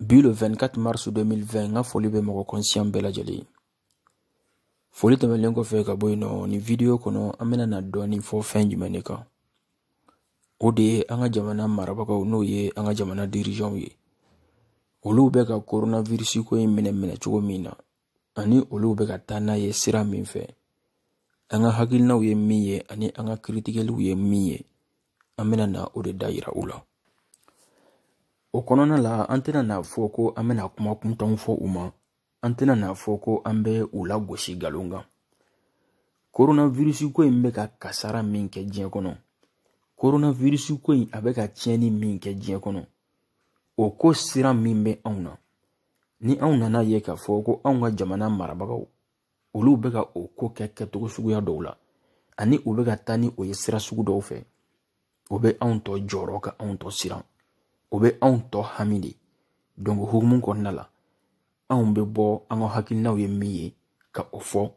bi le 24 mars 2020 n ka foli bɛ mɔgɔ kɔnsiyan bɛɛ lajɛlen ye foli tɛmɛlen kɔfɛ ka bɔ yen nɔ nin vidiyo kɔnɔ an bɛna na dɔɔnin fɔ fɛn jumɛn de kan o de ye an ka jamana marabagaw n'o ye an ka jamana dirijanw ye olu bɛ ka coronavirus ko in minɛ minɛ cogo min na ani olu bɛ ka taa n'a ye sira min fɛ an ka hakilinaw ye min ye ani an ka kritikeliw ye min ye an bɛna na o de da yira u la o kɔnɔna la an tɛna n'a fɔ ko an bɛna kuma kuntanw fɔ u ma an tɛna n'a fɔ ko an bɛ u lagosi nkalon kan koronavirisi ko in bɛ ka kasara min kɛ diɲɛ kɔnɔ koronavirisi ko in a bɛ ka tiɲɛni min kɛ diɲɛ kɔnɔ o ko siran min bɛ anw na ni anw nana a ye k'a fɔ ko anw ka jamana marabagaw olu bɛ ka o ko kɛ kɛcogo suguya dɔw la ani u bɛ ka taa ni o ye sira sugu dɔw fɛ o bɛ anw tɔ jɔrɔ ka anw tɔ siran o bɛ anw tɔ hami de donc o hukumu kɔnɔna la anw bɛ bɔ an ka hakilinaw ye min ye ka o fɔ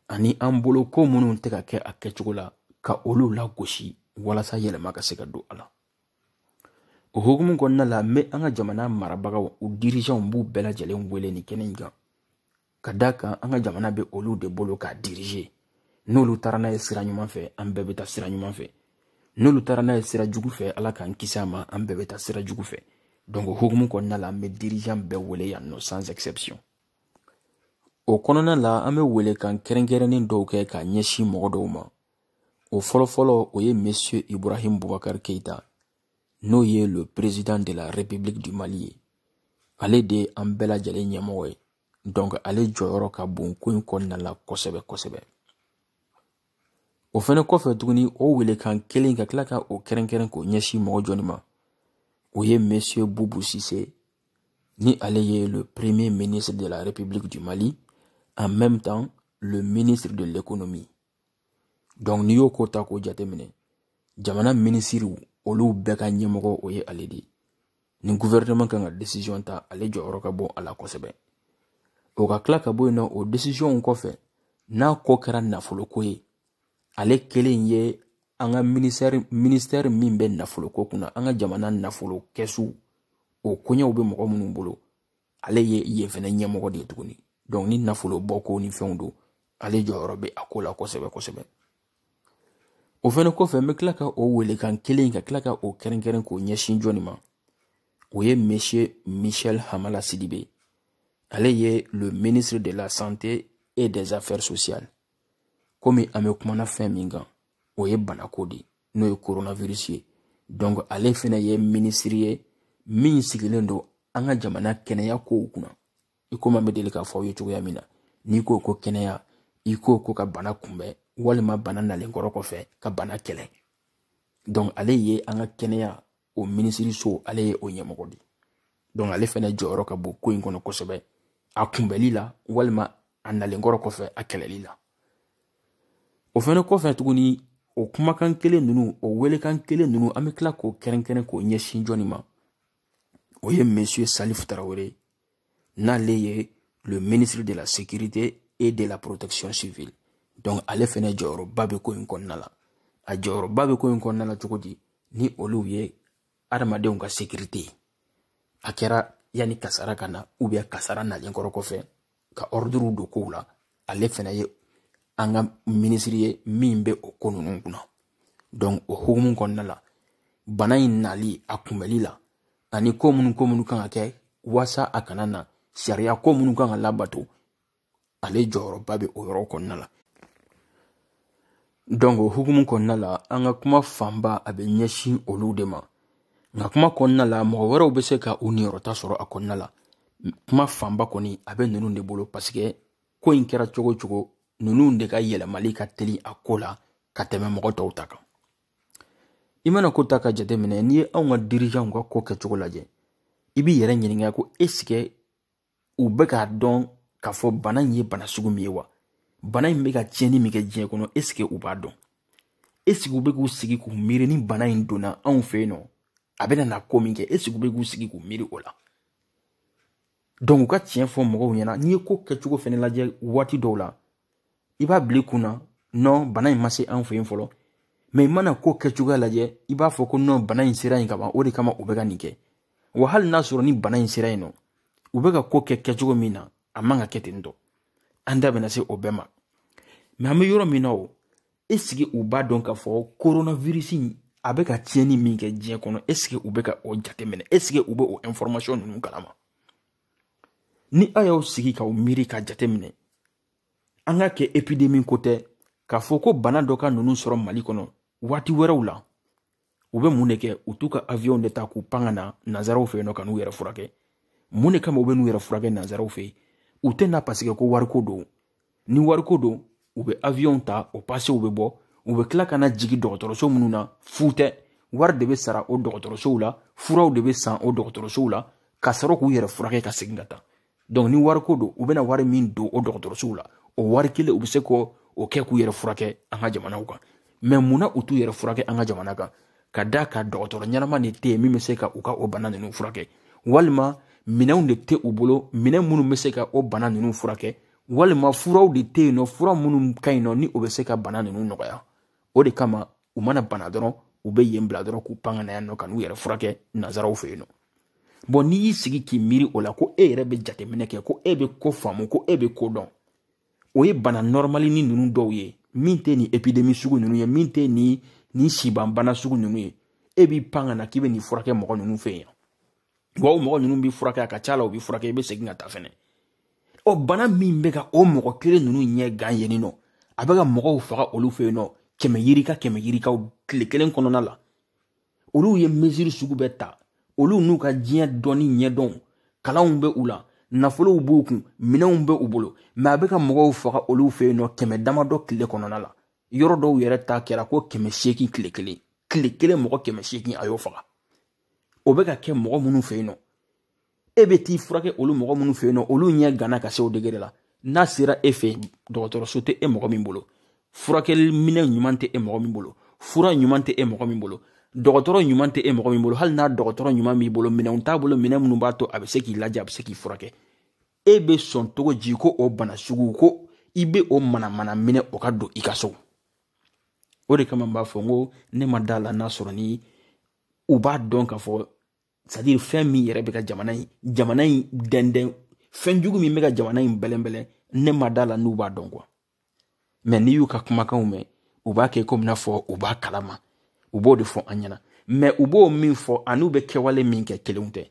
ani an bolo ko minnu tɛ ka kɛ a kɛcogo la ka olu lagosi walasa yɛlɛma ka se ka don a la o hukumu kɔnɔna la n bɛ an ka jamana marabagaw u dirijanw b'u bɛɛ lajɛlen wele nin kɛnɛ in kan ka d'a kan an ka jamana bɛ olu de bolo k'a diriger n'olu taara n'a ye sira ɲuman fɛ an bɛɛ bɛ taa sira ɲuman fɛ n'olu taara n'a ye sira jugu fɛ ala k'an kisi a ma an bɛɛ bɛ taa sira jugu fɛ donc o hukumu kɔnɔna la an bɛ dirigeant bɛɛ wele yan nɔ sans exception o kɔnɔna la an bɛ welekan kɛrɛnkɛrɛnnen dɔw kɛ ka ɲɛsin mɔgɔ dɔw ma o fɔlɔfɔlɔ o ye monsieur ibrahim bubakar keita n'o ye le président de la république du mali ye ale de ye an bɛɛ lajɛlen ɲɛmɔgɔ ye donc ale jɔyɔrɔ ka bon ko in kɔnɔna la kosɛbɛ kosɛbɛ o fɛnɛ kɔfɛ tuguni o welekan kelen ka tila ka o kɛrɛnkɛrɛn k'o ɲɛsin mɔgɔ jɔni ma o ye monsieur bubu sise ni ale ye le premier ministre de la république du mali en même temps le ministre de l'économie dɔnku n'i y'o ko ta k'o jateminɛ jamana minisiriw olu bɛɛ ka ɲɛmɔgɔ o ye ale de ye ni guvɛrɛnɛman kan ka desizɔn ta ale jɔyɔrɔ ka bon a la kosɛbɛ o ka tila ka bɔ yen nɔ o desizɔnw kɔfɛ n'a ko kɛra nafoloko ye ale kelen ye an ka mi minisitɛri min bɛ nafoloko kunna an ka jamana nafolo kɛsu o koɲɛw bɛ mɔgɔ minnu bolo ale ye yen fɛnɛ ɲɛmɔgɔ de ye tuguni donc ni nafolo bɔ ko ni fɛnw don ale jɔyɔrɔ bɛ a ko la kosɛbɛ kosɛbɛ o fɛnɛ kɔfɛ n bɛ tila ka o welekan kelen ka tila ka o kɛrɛnkɛrɛn k'o ɲɛsin jɔni ma o ye monsieur michel hamala sidibe ale ye le ministre de la santé et des affaires sociales komi an bɛ kuma na fɛn min kan o ye banako de ye n'o ye coronavirus ye donc ale fɛnɛ ye minisiri ye min sigilen don an ka jamana kɛnɛya kow kunna i komi an bɛ deli k'a fɔ aw ye cogoya min na n'i ko ko kɛnɛya i ko ko ka bana kunbɛn walima bana nalen kɔrɔ kɔfɛ ka bana kɛlɛ donc ale ye an ka kɛnɛya o minisiriso ale ye o ɲɛmɔgɔ de donc ale fɛnɛ jɔyɔrɔ ka bon ko in kɔnɔ kosɛbɛ a kunbɛli la walima a nalen kɔrɔ kɔfɛ a kɛlɛli la o fɛnɛ kɔfɛ tuguni o kumakan kelen ninnu o welekan kelen ninnu an bɛ tila k'o kɛrɛnkɛrɛn k'o ɲɛsin jɔni ma o ye monsieur salifu tarawele n'ale ye le ministre de la sécurité et de la protection civile donc ale fɛnɛ jɔyɔrɔba bɛ ko in kɔnɔna la a jɔyɔrɔba bɛ ko in kɔnɔna la cogo di ni olu ye adamadenw ka sécurité ye a kɛra yanni kasara ka na ou bien kasara nalen kɔrɔ kɔfɛ ka ordre don kow la ale fɛnɛ ye an ka minisiri ye min bɛ o ko ninnu kunna donc o hukumu kɔnɔna la bana in nali a kunbɛli la ani ko minnu ko minnu kan ka kɛ waasa a kana na sariya ko minnu kan ka labato ale jɔyɔrɔba bɛ o yɔrɔ kɔnɔna la donc o hukumu kɔnɔna la an ka kuma fanba a bɛ ɲɛsin olu de ma nka kuma kɔnɔna la mɔgɔ wɛrɛw bɛ se ka u niyɔrɔta sɔrɔ a kɔnɔna la kuma fanba kɔni a bɛ ninnu de bolo parce que ko in kɛra cogo o cogo ninnu de ka yɛlɛmali ka teli a ko la ka tɛmɛ mɔgɔ tɔw ta kan i mana ko ta ka jateminɛ n'i ye anw ka dirigeants ka ko kɛcogo lajɛ i b'i yɛrɛ ɲininka ko est-ce que u bɛ k'a dɔn k'a fɔ bana in ye bana sugu min ye wa bana in bɛ ka tiɲɛni min kɛ diɲɛ kɔnɔ est-ce que u b'a dɔn est-ce que u bɛ k'u sigi k'u miiri ni bana in donna anw fɛ yen nɔ a bɛna na ko min kɛ est-ce que u bɛ k'u sigi k'u miiri o la donc u ka tiɲɛ fɔ mɔgɔw ɲɛna n'i ye ko kɛcogo fɛnɛ lajɛ waati dɔw la i b'a bila i kun na non bana in ma se an fɛ yen fɔlɔ mais i mana ko kɛcogoya lajɛ i b'a fɔ ko non bana in sera yen kaban o de kama u bɛ ka nin kɛ wa hali n'a sɔrɔ ni bana in sera yen nɔ u bɛ ka ko kɛ kɛcogo min na a man ka kɛ ten tɔ an da bɛna se o bɛɛ ma mais an bɛ yɔrɔ min na o est-ce que u b'a dɔn k'a fɔ coronavirus a bɛ ka tiɲɛni min kɛ diɲɛ kɔnɔ est-ce que u bɛ ka o jateminɛ est-ce que u bɛ o information ninnu kalama ni aw y'aw sigi k'aw miiri ka jateminɛ an k'a kɛ épidémie ko tɛ k'a fɔ ko bana dɔ ka ninnu sɔrɔ mali kɔnɔ waati wɛrɛw la u bɛ mun de kɛ u t'u ka avion de ta k'u pan ka na nanzaraw fɛ yen nɔ ka n'u yɛrɛ furakɛ mun de kama u bɛ n'u yɛrɛ furakɛ nanzaraw fɛ yen u tɛ na parce que ko wariko don ni wariko don u bɛ avion ta o pasew bɛ bɔ u bɛ tila ka na jigin dɔgɔtɔrɔso minnu na fu tɛ wari de bɛ sara o dɔgɔtɔrɔsow la furaw de bɛ san o dɔgɔtɔrɔsow la ka sɔrɔ k'u yɛrɛ furakɛ ka segin ka taa donc ni wariko don u bɛna wari min don o dɔgɔtɔrɔsow la o wari kelen u bɛ se k'o kɛ k'u yɛrɛ furakɛ an ka jamanaw kan mais mun na u t'u yɛrɛ furakɛ an ka jamana kan ka d'a kan dɔgɔtɔrɔ ɲɛnama de tɛ yen min bɛ se ka u ka o bana ninnu furakɛ walima minɛnw de tɛ u bolo minɛn minnu bɛ se ka o bana ninnu furakɛ walima furaw de tɛ yen nɔ fura minnu ka ɲi nɔ ni o bɛ se ka bana ninnu nɔgɔya o de kama u mana bana dɔrɔn u bɛ yen bila dɔrɔn k'u pan ka na yan nɔ ka n'u yɛrɛ furakɛ nanzaraw fɛ yen nɔ bon n'i y'i sigi k'i miiri o la ko e yɛrɛ bɛ jateminɛ kɛ ko e bɛ ko faamu ko e bɛ ko dɔn o ye bana nɔrɔmalinin ninnu dɔw ye min tɛ nin épidémie sugu ninnu ye min tɛ nin nin sibanbana sugu ninnu ye e b'i pan ka na k'i bɛ n'i furakɛ mɔgɔ ninnu fɛ yen wa o mɔgɔ ninnu b'i furakɛ a ka ca la u b'i furakɛ i bɛ segin ka taa fɛnɛ o bana min bɛ ka o mɔgɔ kelen ninnu ɲɛ gan yen nɔ a bɛ ka mɔgɔw faga olu fɛ yen nɔ kɛmɛ yirika kɛmɛ yirikaw tile kelen kɔnɔna la olu ye mesure sugu bɛɛ ta olu n'u ka diɲɛ dɔnni ɲɛdɔn kalanw bɛ u la nafolow b'u kun minɛnw bɛ u bolo mais a bɛ ka mɔgɔw faga olu fɛ yen nɔ kɛmɛ damadɔ tile kɔnɔna la yɔrɔ dɔw yɛrɛ ta kɛra ko kɛmɛ seegin tile kelen tile kelen mɔgɔ kɛmɛ seegin a y'o faga o bɛ ka kɛ mɔgɔ minnu fɛ yen nɔ e bɛ t'i furakɛ olu mɔgɔ minnu fɛ yen nɔ olu ɲɛ ganna ka se o degré la n'a sera e fɛ dɔgɔtɔrɔso tɛ e mɔgɔ min bolo furakɛli minɛn ɲuman tɛ e mɔgɔ min bolo fura ɲuman tɛ e mɔgɔ min bolo dɔgɔtɔrɔ ɲuman tɛ e mɔgɔ min bolo hali n'a dɔgɔtɔrɔ ɲuman b'i bolo minɛnw t'a bolo minɛn minnu b'a to a bɛ se k'i lajɛ a bɛ se k'i furakɛ e bɛ sɔn cogo ji ko o bana sugu ko i bɛ o manamana minɛ o ka don i ka so o de kama n b'a fɔ n ko ne ma da la n'a sɔrɔ ni u b'a dɔn k'a fɔ c'est-à-dire fɛn min yɛrɛ bɛ ka jamana in jamana in dɛndɛn fɛn jugu min bɛ ka jamana in bɛlɛnbɛlɛn ne ma da la n'u b'a dɔn quoi mais n'i y'u ka kumakanw mɛn u b'a kɛ komi n'a fɔ u b'a kalama u b'o de fɔ an ɲɛna mais u b'o min fɔ an'u bɛ kɛwale min kɛ kelenw tɛ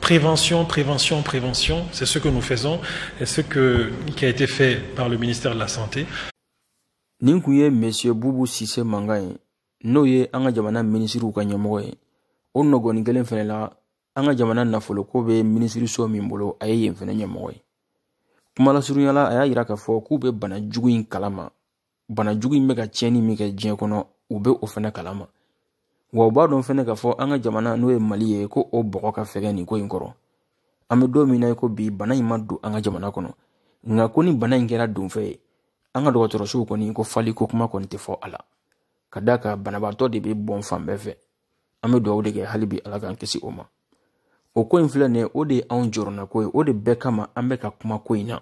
Prévention, prévention, prévention, c'est ce que nous faisons et ce que, qui a été fait par le ministère de la Santé. Nin kun ye Monsieur Boubou Cissé Manga ye n'o ye an ka jamana minisiriw ka ɲɛmɔgɔ ye o nɔgɔnin kelen fɛnɛ la an ka jamana nafoloko bɛ minisiriso min bolo a ye yen fɛnɛ ɲɛmɔgɔ ye kuma lasurunya la a y'a yira k'a fɔ k'u bɛ bana jugu in kalama bana jugu in bɛ ka tiɲɛni min kɛ diɲɛ kɔnɔ u bɛ o fɛnɛ kalama wa u b'a dɔn fɛnɛ k'a fɔ an ka jamana n'o ye mali ye ko o bɔgɔ ka fɛgɛn nin ko in kɔrɔ an bɛ don min na ko bi bana in ma don an ka jamana kɔnɔ nka ko ni bana in kɛra donfɛn ye an ka dɔgɔtɔrɔsow kɔni ko fali ko kuma kɔni tɛ fɔ a la ka d'a kan banabaatɔ de bɛ bɔn fan bɛɛ fɛ an bɛ dugawu de kɛ hali bi ala k'an kisi o ma o ko in filɛ nin ye o de ye anw jɔrɔnako ye o de bɛɛ kama an bɛ ka kuma ko in na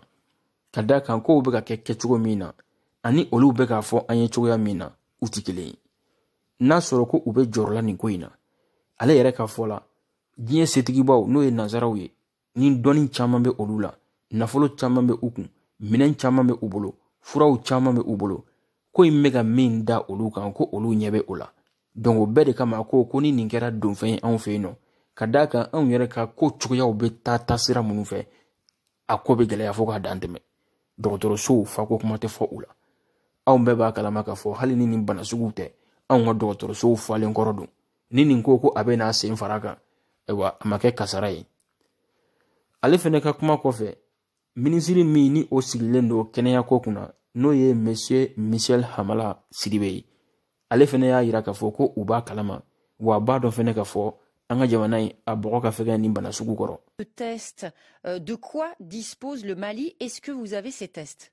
ka d'a kan kow bɛ ka kɛ kɛcogo min na ani olu bɛ k'a fɔ an ye cogoya min na u tɛ kelen ye n'a sɔrɔ ko u bɛ jɔrɔ la nin ko in na ale yɛrɛ ka fɔ la diɲɛ setigibaw n'o ye nanzaraw ye ni dɔnni caman bɛ olu la nafolo caman bɛ u kun minɛn caman bɛ u bolo furaw caman bɛ u bolo ko in bɛ ka min da olu kan ko olu ɲɛ bɛ o la donc o bɛɛ de kama a ko ko ni nin kɛra donfɛn ye anw fɛ yen nɔ ka d'a kan anw yɛrɛ ka ko cogoyaw bɛ taa sira minnu fɛ a ko bɛ gɛlɛya fo k'a dan tɛmɛ dɔgɔtɔrɔsow fako kuma tɛ fɔ u la anw bɛɛ b'a kalama k'a fɔ hali ni nin bana suguw tɛ anw ka dɔgɔtɔrɔsow falen kɔrɔ don ni nin ko ko a bɛ n'a sen fara kan ayiwa a ma kɛ kasara ye ale fɛnɛ ka kuma kɔfɛ minisiri min ni o sigilen don kɛnɛyako kunna n'o ye monsieur michel hamala sidibe ye ale fɛnɛ y'a yira k'a fɔ ko u b'a kalama wa a b'a dɔn fɛnɛ k'a fɔ an ka jamana in a bɔgɔ ka fɛgɛn nin bana sugu kɔrɔ. test euh, de quoi dispose le Mali est-ce que vous avez ces tests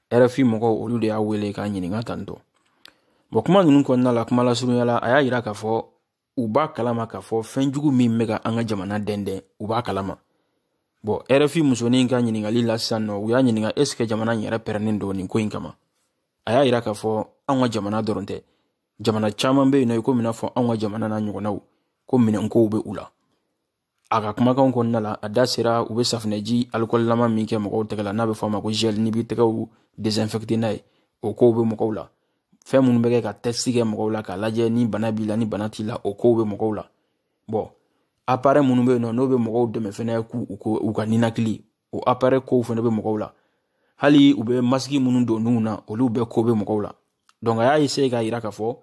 rfi mɔgɔw olu de y'a wele k'a ɲininka tantôt bɔn kuma ninnu kɔnɔna la kuma lasurunya la a y'a yira k'a fɔ u b'a kalama k'a fɔ fɛn jugu min bɛ ka an ka jamana dɛndɛn u b'a kalama bɔn rfi musonin ka ɲininkali la sisan nɔ u y'a ɲininka est ce que jamana in yɛrɛ pɛrɛnnen don nin ko in kama a y'a yira k'a fɔ anw ka jamana dɔrɔn tɛ jamana caman bɛ yen nɔ i komi n'a fɔ anw ka jamana n'a ɲɔgɔnnaw ko minɛnkow bɛ u la a ka kumakanw kɔnɔna la a da sera u bɛ safinɛji alikɔlilama min kɛ mɔgɔw tɛgɛ la n'a bɛ fɔ a ma ko gel n'i b'i tɛgɛw désinfecter n'a ye o kow bɛ mɔgɔw la fɛn minnu bɛ kɛ ka test kɛ mɔgɔw la k'a lajɛ ni bana b'i la ni bana t'i la o kow bɛ mɔgɔw la bɔn appareil minnu bɛ yen nɔ n'o bɛ mɔgɔw dɛmɛ fɛnɛ k'u u ka ninakili o appareil kow fɛnɛ bɛ mɔgɔw la hali u bɛ masiki minnu don nun na olu bɛɛ ko bɛ mɔgɔw la donc a y'a essayer k'a yira k'a fɔ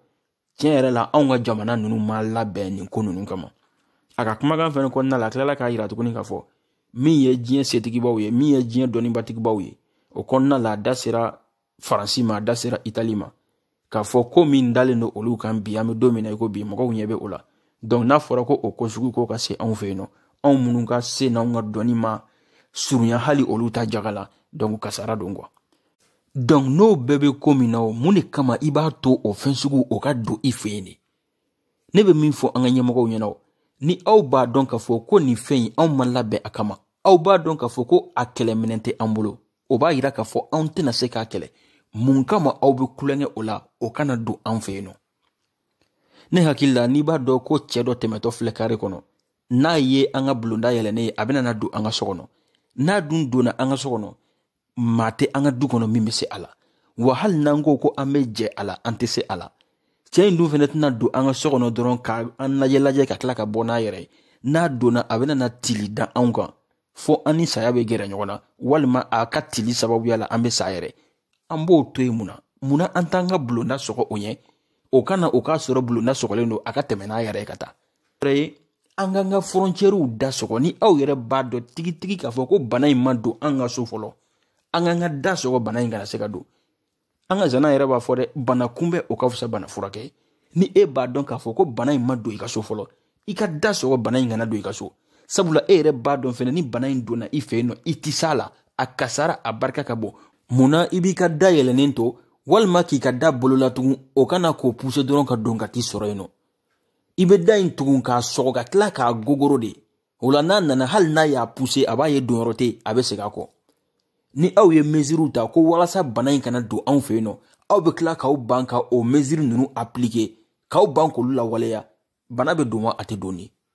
tiɲɛ yɛrɛ la anw ka jamana ninnu ma labɛn nin ko ninnu kama a ka kumakan fɛnɛ kɔnɔna la a tilala k'a yira tuguni k'a fɔ min ye diɲɛ setigibaw ye min ye diɲɛ dɔnnibatigibaw ye o kɔnɔna la a da sera faransi ma a da sera itali ma k'a fɔ ko min dalen don olu kan bi an bɛ don min na i ko bi mɔgɔw ɲɛ bɛ o la donc n'a fɔra ko o ko sugu ko ka se anw fɛ yen nɔ anw minnu ka se n'anw ka dɔnni ma surunya hali olu ta jaga la donc kasara don quoi donc n'o bɛɛ bɛ ko min na o mun de kama i b'a to o fɛn sugu o ka don i fɛ yen de ne bɛ min fɔ an ka ɲɛmɔgɔw ɲɛna o ni aw b'a dɔn k'a fɔ ko nin fɛn in anw ma labɛn a kama aw b'a dɔn k'a fɔ ko a kɛlɛminɛn tɛ an bolo o b'a yira k'a fɔ anw tɛna se k'a kɛlɛ mun kama aw bɛ kulonkɛ o la o kana don an fɛ yen nɔ ne hakili la n'i b'a dɔn ko cɛ dɔ tɛmɛtɔ filɛ kare kɔnɔ n'a ye an ka bulonda yɛlɛnnen ye a bɛna na don an ka so kɔnɔ n'a dun donna an ka so kɔnɔ maa tɛ an ka du kɔnɔ min bɛ se a la wa hali n'an ko ko an bɛ jɛ a la an tɛ se a la cɛ in dun fɛnɛ tɛna don an ka so kɔnɔ dɔrɔn ka an lajɛ lajɛ ka tila ka bɔ n'a yɛrɛ ye n'a donna a bɛna na tili da anw kan fo an ni saya bɛ gɛrɛ ɲɔgɔn na walima a ka tili sababuya la an bɛ sa yɛrɛ an b'o to yen munna munna an t'an ka bulonda sɔgɔ o ɲɛ o ka na o k'a sɔrɔ bulonda sɔgɔlen don a ka tɛmɛ n'a yɛrɛ ye ka taa an k'an ka fɔrɔncɛriw da sɔgɔ ni aw yɛrɛ b'a dɔn tigitigi k'a fɔ ko bana in ma don an ka so fɔlɔ an k'an ka da sɔgɔ bana in kana se ka don an ka zana yɛrɛ b'a fɔ dɛ bana kunbɛ o ka fisa bana furakɛ ni e b'a dɔn k'a fɔ ko bana in ma don i ka so fɔlɔ i ka da sɔgɔ bana in kana don i ka so sabula e yɛrɛ b'a dɔn fɛnɛ ni bana in donna i fɛ yen nɔ i ti s'a la a kasara a barika ka bon mun na i b'i ka da yɛlɛnnen to walima k'i ka da bolola tugun o ka na k'o puse dɔrɔn ka don ka t'i sɔrɔ yen nɔ i bɛ da in tugun k'a sɔgɔ ka tila k'a gogoro de o la n'a nana hali n'a y'a puse a b'a ye donyɔrɔ tɛ a bɛ segin a kɔ ni aw ye meziriw ta ko walasa bana in kana don anw fɛ yen nɔ aw bɛ tila k'aw ban ka o meziri ninnu apilike k'aw ban k'olu lawaleya bana bɛ don wa a tɛ don de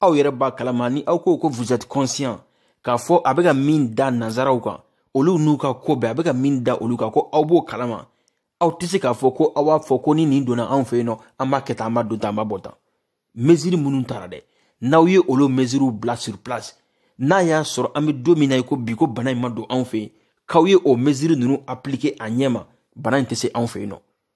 aw yɛrɛ b'a kalama ni aw ko ko vous êtes conscient k'a fɔ a bɛ ka min da nanzaraw kan olu n'u ka ko bɛɛ a bɛ ka min da olu kan ko aw b'o kalama aw tɛ se k'a fɔ ko aw b'a fɔ ko ni nin donna anw fɛ yen nɔ an b'a kɛ tan an b'a don tan an b'a bɔ tan mesiri minnu tara dɛ n'aw ye olu mesiriw bila sur place n'a y'a sɔrɔ an bɛ don min na i ko bi ko bana in ma don anw fɛ yen k'aw ye o mesiri ninnu appliquer a ɲɛ ma bana in tɛ se anw fɛ yen nɔ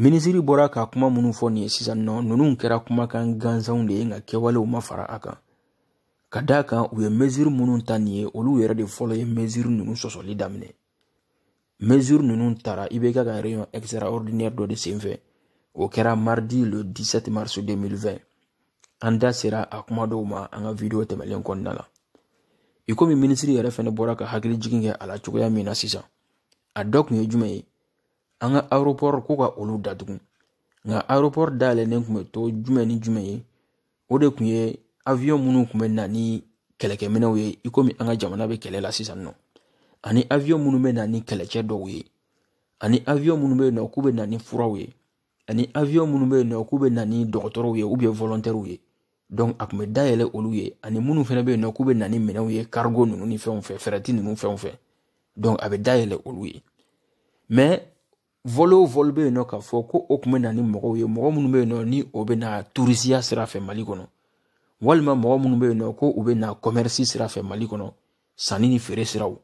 minisiri bɔra ka kuma minnu fɔ nin ye sisan nɔ ninnu kɛra kumakan gansanw de ye nka kɛwalew ma fara a kan ka d'a kan u ye meziri minnu ta nin ye olu yɛrɛ de fɔlɔ ye meziri ninnu sɔsɔli daminɛ meziri ninnu tara IBK ka réunion extraordinaire dɔ de senfɛ o kɛra mardi le 17 mars 2020 an da sera a kuma dɔw ma an ka video tɛmɛlen kɔnɔna la i komi minisiri yɛrɛ fɛnɛ bɔra ka hakili jigin kɛ a la cogoya min na sisan a dɔ kun ye jumɛn ye an ka aropɔri ko ka olu datugu nka aropɔri dayɛlɛlen kun bɛ to jumɛn ni jumɛn ye o de kun ye awiyon minnu kun bɛ na ni kɛlɛkɛminɛw ye i komi an ka jamana bɛ kɛlɛ la sisan nɔ ani awiyon minnu bɛ na ni kɛlɛcɛ dɔw ye ani awiyon minnu bɛ yen nɔ k'u bɛ na ni furaw ye ani awiyon minnu bɛ yen nɔ k'u bɛ na ni dɔgɔtɔrɔw ye ou bien volontairew ye dɔnku a kun be dayɛlɛ olu ye ani minnu fɛnɛ be yen nɔ k'u be na ni minɛnw ye karigo nunu ni fɛnw fɛ fɛrɛti nunu fɛnw fɛ dɔnku a be dayɛlɛ olu ye mɛ vɔli o vɔli be yen nɔ k'a fɔ ko o kun be na ni mɔgɔw ye mɔgɔ minnu be yen nɔ ni o be na turisiya sira fɛ mali kɔnɔ walima mɔgɔ minnu be yen nɔ ko u be na kɔmɛrisi sira fɛ mali kɔnɔ sanni ni feere siraw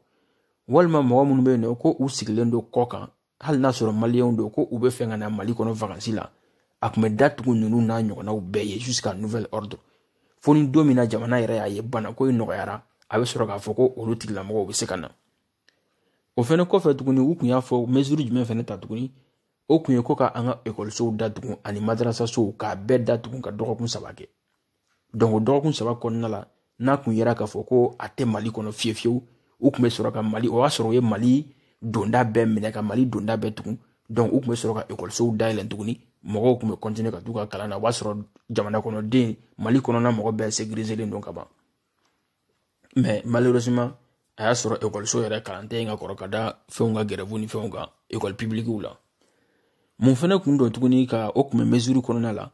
walima mɔgɔ minnu be yen nɔ ko u sigilen don kɔkan hali n'a sɔrɔ maliyɛnw don ko u bɛ fɛ ka na mali kɔnɔ vakansi la a kun bɛ datugu ninnu n'a ɲɔgɔnnaw bɛɛ ye jusqu'à nouvel ordre fo ni don min na jamana yɛrɛ y'a ye banako in nɔgɔyara a bɛ sɔrɔ k'a fɔ ko olu tigilamɔgɔw bɛ se ka na o fɛnɛ kɔfɛ tuguni u kun y'a fɔ mesure jumɛn fɛnɛ ta tuguni o kun ye ko ka an ka ekɔlisow datugu ani madarasasow k'a bɛɛ datugu ka dɔgɔkun saba kɛ donc o dɔgɔkun saba kɔnɔna la n'a kun yera k'a fɔ ko a tɛ mali kɔnɔ fiyefiyewu u kun bɛ sɔrɔ ka mali o y'a sɔrɔ u ye mali donda bɛɛ minɛ ka mali donda bɛɛ tugun donc u kun bɛ sɔrɔ ka ekɔlisow dayɛlɛ tuguni mɔgɔw kun bɛ kɔntine ka t'u ka kalan na o b'a sɔrɔ jamana kɔnɔden mali kɔnɔna mɔgɔ bɛɛ sekirizelen don ka ban mais malheureusement a y'a sɔrɔ ekɔliso yɛrɛ kalan tɛ yen ka kɔrɔ ka da fɛnw ka grève ni fɛnw kan ekɔli pibilikiw la mun fɛnɛ kun don tuguni ka o kun bɛ mesure kɔnɔna la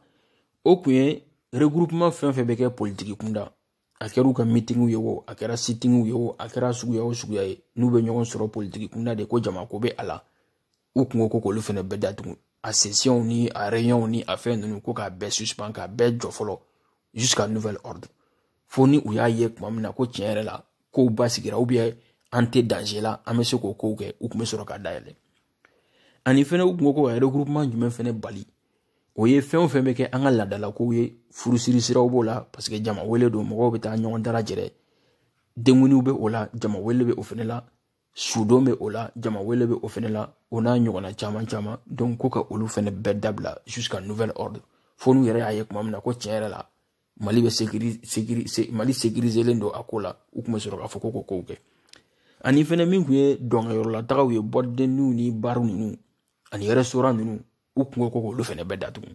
o kun ye regroupement fɛn fɛn bɛ kɛ politiki kunda a kɛra u ka mitingiw ye o a kɛra sitingiw ye o a kɛra suguya o suguya ye n'u bɛ ɲɔgɔn sɔrɔ politiki kunda de ko jama ko bɛ a la u kun ko ko k'olu fɛnɛ bɛɛ datugu a sesiyɔnw ni a reyɔnw ni a fɛn ninnu ko k'a bɛɛ suspend k'a bɛɛ jɔ fɔlɔ jusqu'à nouvel ordre fo ni u y'a ye tuma min na ko tiɲɛ yɛrɛ la kow basigira an tɛ danze la an bɛ se k'o kow kɛ u kun bɛ sɔrɔ ka dayɛlɛ ani fɛnɛ u kun ko ko ka regroupement jumɛn fɛnɛ bali o ye fɛn o fɛn bɛ kɛ an ka laadalakow ye furusiri siraw b'o la parce que jama wele don mɔgɔw bɛ taa ɲɔgɔn dalajɛrɛ denkundiw bɛ o la jama wele bɛ o fɛnɛ la sudon bɛ o la jama wele bɛ o fɛnɛ la o n'a ɲɔgɔnna caman caman donc ko ka olu fɛnɛ bɛɛ dabila jusqu'à nouvel ordre fo n'u yɛrɛ y'a ye tuma min na ko tiɲɛ yɛrɛ la mali bɛ mali sekirizelen don a ko la u kun bɛ sɔrɔ k'a fɔ ko kow kɛ ani fɛnɛ min kun ye dɔnkɛyɔrɔlatagaw ye boîte de nuitw ni barw ninnu ani restaurant ninnu u kun ko ko k'olu fɛnɛ bɛɛ datugu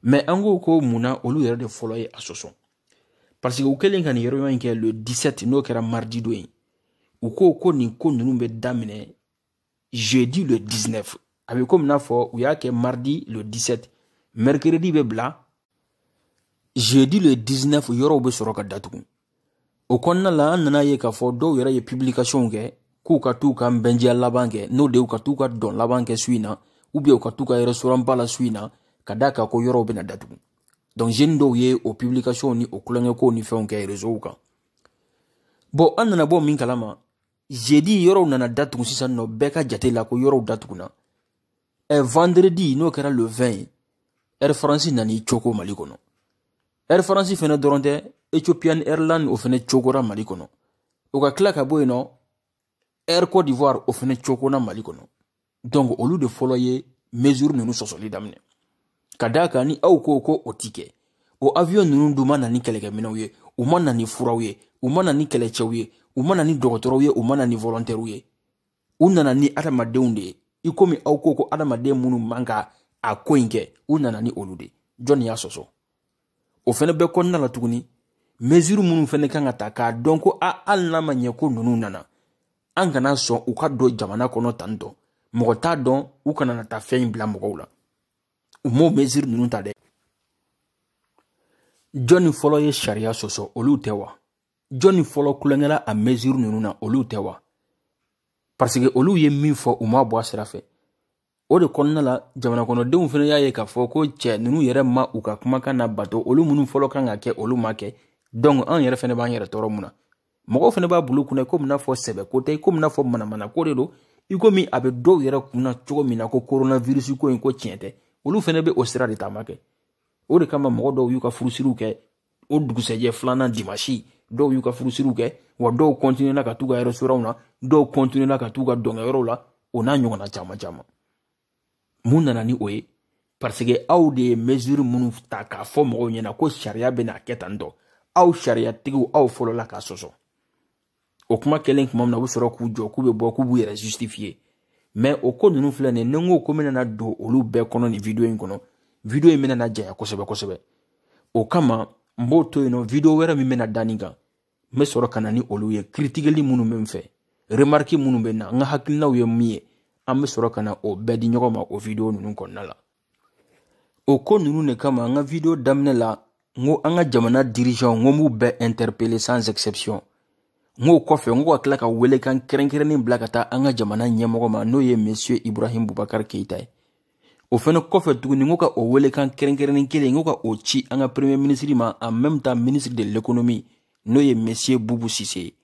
mais an ko ko mun na olu yɛrɛ de fɔlɔ ye a sɔsɔ parce que u kɛlen ka nin réunion in kɛ le 17 n'o kɛra mardi don ye u ko ko nin ko ninnu bɛ daminɛ jeudi le 19 a bɛ komi n'a fɔ u y'a kɛ mardi le 17 mercredi bɛ bila jeudi le 19 yɔrɔw bɛ sɔrɔ ka datugu o kɔnɔna la an nana a ye k'a fɔ dɔw yɛrɛ ye publication kɛ k'u ka t'u ka nbɛndiya laban kɛ n'o de y'u ka t'u ka dɔn laban kɛ su in na ou bien u ka t'u ka restaurant ba la su in na ka d'a kan ko yɔrɔw bɛna datugu donc jeune dɔw ye o publication ni o kulonkɛkow ni fɛnw kɛ réseau kan bon an nana bɔ min kalama jeudi yɔrɔw nana datugu sisan nɔ bɛɛ ka jate la ko yɔrɔw datugunna ɛ eh, vendredi n'o kɛra le 20 ye air france nani coko mali kɔnɔ air france fɛnɛ dɔrɔn tɛ ethiopian airline o fɛnɛ cokora mali kɔnɔ o ka kila ka bɔ yen nɔ air cote d'ivoire o fɛnɛ cokona mali kɔnɔ donc olu de fɔlɔ ye mesure ninnu sɔsɔli daminɛ ka d'a kan ni aw ko ko o ti kɛ o avion ninnu dun ma na ni kɛlɛkɛminɛw ye u ma na ni furaw ye u ma na ni kɛlɛcɛw ye u ma na ni dɔgɔtɔrɔw ye u ma na ni volontɛriw ye u nana ni adamadenw de ye i komi aw ko ko adamaden minnu man ka a ko in kɛ u nana ni olu de jɔnni y'a sɔsɔ o fɛnɛ bɛɛ kɔnɔna la tuguni mesure minnu fɛnɛ kan ka ta k'a dɔn ko a hali n'a ma ɲɛ ko ninnu nana an kana sɔn u ka don jamana kɔnɔ tan tɔ mɔgɔ t'a dɔn u kana na taa fɛn in bila mɔgɔw la u m'o mesure ninnu ta dɛ jɔnni fɔlɔ ye sariya sɔsɔ olu tɛ wa jɔnni fɔlɔ kulonkɛla a mesure ninnu na olu tɛ wa parce que olu ye min fɔ u ma bɔ a sira fɛ o de kɔnɔna la jamanakɔnɔdenw fɛnɛ y'a ye k'a fɔ ko cɛ ninnu yɛrɛ ma u ka kumakan nabato olu minnu fɔlɔ kan ka kɛ olu ma kɛ donc an yɛrɛ fɛnɛ b'an yɛrɛ tɔɔrɔ mun na mɔgɔw fɛnɛ b'a bil'u kunna komi n'a fɔ sɛbɛko tɛ komi n'a fɔ manamanako de don i komi a bɛ dɔw yɛrɛ kunna cogo min na ko coronavirus ko in ko tiɲɛ tɛ olu fɛnɛ bɛ o sira de taama kɛ o de kama mɔgɔ dɔw y'u ka furusiriw kɛ o dugusɛjɛ filanan dimasi dɔw y'u ka furusiriw kɛ wa dɔw kɔntinuena ka t'u ka restaurantw na dɔw kɔntinuena ka t'u ka dɔnkɛyɔrɔw la o n'a ɲɔgɔnna caman caman mun nana ni o ye parce que aw de ye mesure minnu ta k'a fɔ mɔgɔw ɲɛna ko sariya bɛna kɛ tan tɔ aw sariyatigiw aw fɔlɔla k'a sɔsɔ o kuma kɛlen tuma min na u bɛ sɔrɔ k'u jɔ k'u bɛ bɔ k'u b'u yɛrɛ justifier mais o ko ninnu filɛ nin ye ni n ko ko n bɛna na don olu bɛɛ kɔnɔ nin video in kɔnɔ video in bɛna na janya kosɛbɛ kosɛbɛ o kama n b'o to yen nɔ video wɛrɛ min bɛna da nin kan n bɛ sɔrɔ ka na ni olu ye kiritikeli minnu bɛ n fɛ remarque minnu bɛ n na n ka hakilinaw ye min ye an bɛ sɔrɔ ka na o bɛɛ di ɲɔgɔn ma o video ninnu kɔnɔna la o ko ninnu de kama n ka video daminɛ la n ko an ka jamana dirigeantw n ko n b'u bɛɛ interpeller sans exception n ko o kɔfɛ n ko ka tila ka welekan kɛrɛnkɛrɛnnen bila ka taa an ka jamana ɲɛmɔgɔ ma n'o ye monsieur ibrahim bubakar keita ye o fɛnɛ kɔfɛ tuguni n ko ka o welekan kɛrɛnkɛrɛnnen kelen n ko ka o ci an ka premier ministre ma en même temps ministre de l'économie n'o ye monsieur bubu sise ye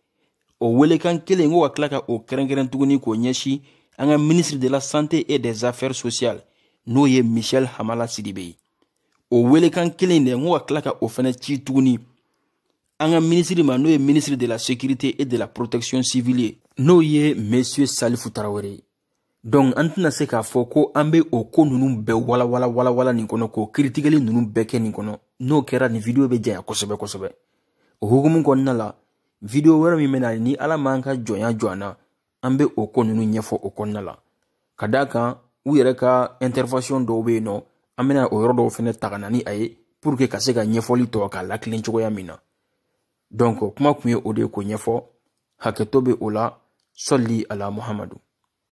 o welekan kelen n ko ka tila ka o kɛrɛnkɛrɛn tuguni k'o ɲɛsin an ka ministre de la santé et des affaires sociales n'o ye michel hamala sidibe ye o welekan kelen de n ko ka tila ka o fɛnɛ ci tuguni an ka ministre ma n'o ye ministre de la sécurité et de la protection civile ye n'o ye monsieur salifu tarawele donc an tɛna se k'a fɔ ko an bɛ o ko ninnu bɛɛ walawala walawala nin kɔnɔ k'o kiritikeli ninnu bɛɛ kɛ nin kɔnɔ n'o kɛra nin video bɛ janya kosɛbɛ kosɛbɛ o hukumu kɔnɔna la video wɛrɛ min bɛna ni ala m'an ka jɔnya jɔ an na an bɛ o ko ninnu ɲɛfɔ o kɔnɔna la ka d'a kan u yɛrɛ ka intervention dɔw bɛ yen nɔ an bɛna o yɔrɔ dɔw fɛnɛ ta ka na ni a ye pour que ka se ka ɲɛfɔli tɔ k'a latilen cogoya min na donc kuma tun ye o de ye k'o ɲɛfɔ hakɛto bɛ o la sɔli ala muhamadu